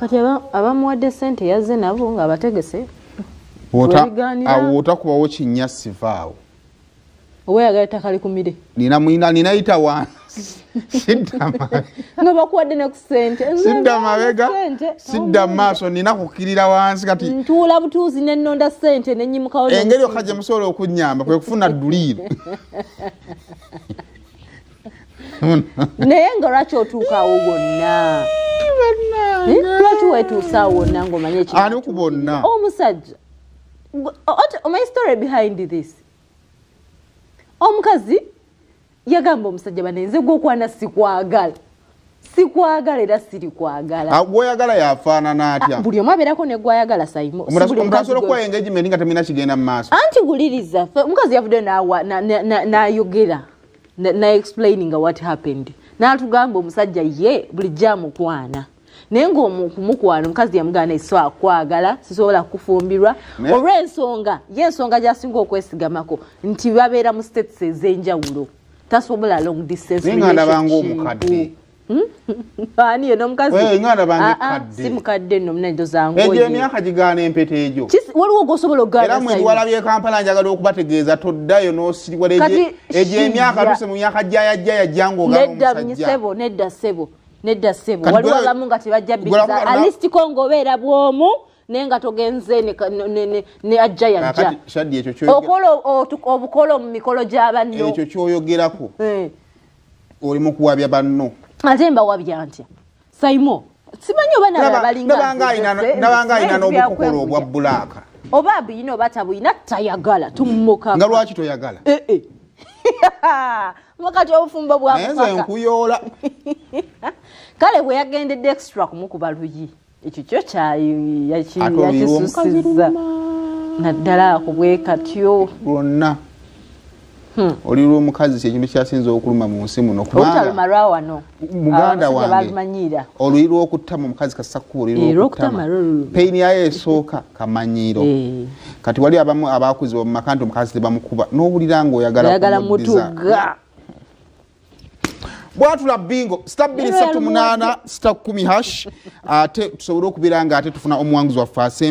kati abamuwadde sente yazze nabo ngaabategese awo otakubawo kinya sivaawo oba yagala ettaka likumire nina mwina nina yita wansi nga bakuwadde ne ku sente sidda mabega sidda mu maaso nina kukkirira wansi kati ntuula butuuzi nenonda sente nenyimukawo engeri yokka gye musobola okunyamba kwe kufuna dduliiro naye nga lwaki otuukaawo gwonna lwaki wetuusaawo wonna ngaomanye ekyo ani ku bonna omusajja omanyi story behind this omukazi yagamba omusajja banenze gwokwana sikwagala sikwagala era siri kwagala ah, gwoyagala yafaanana atya ah, buli omu abeerako ne gwayagala saimomuasobola okuwa engagement nga temina kigenda mu maaso anti wuliriza omukazi yavudde nayogera naexplaininga what happened natugamba omusajja ye buli jamukwana naye ngaomukumukwano omukazi yamugaana eso akwagala sisobola kufumbirwa olwensonga ye ensonga gyasinga okwesigamako nti babeera mu states ezenjawulo tasobola long distance omukadde hmm? ani yena omukaziasi mukadde no munajo zanguegyo emyaka gigaana empeta egyo waliwo gosobola okugaera mwe biwalabyo ekampala njagala okubategeeza toddayo nosiriwala egyo emyaka tuse mu myaka jayajjayajja ngaogamusajja nedda sebo nedda sebo waliwo abamu nga tebajja biza alisti kongo obeera bwomu naye nga togenze ne ajja yajja okola obukolo mu mikolo gya banno ekyo kyoyogerako eh. oli mukuwabya banno ate mbawabya ntya saimo simanyi oba nababalingabanga alina n'obukokolo obwa bulaaka oba abuyina oba tabuyina tayagala tumukanga lwaki toyagala eh, eh. wakati obufumbo bwakufa nkuyoola kale bwe yagendedde extra kumukuba luyi ekyo kyo kyayakisusiza naddala kubwekatyo lwonna hmm. oli lwomukazi kyekintu kyasinza okuluma mu nsi muno kubataluma lwawano muganda wange oluyi lwokutama omukazi kasakkuba oluyilwokutama peyini yayo esooka kamanyiiro eh. kati wali abamu abakuzibwa mumaka nti omukazi tebamukuba nowulira nga oyagala mutuga bwatula bingo sita 2 8 sita 1 hash ate tusobole okubira nga ate tufuna omuwanguzi waffe asemba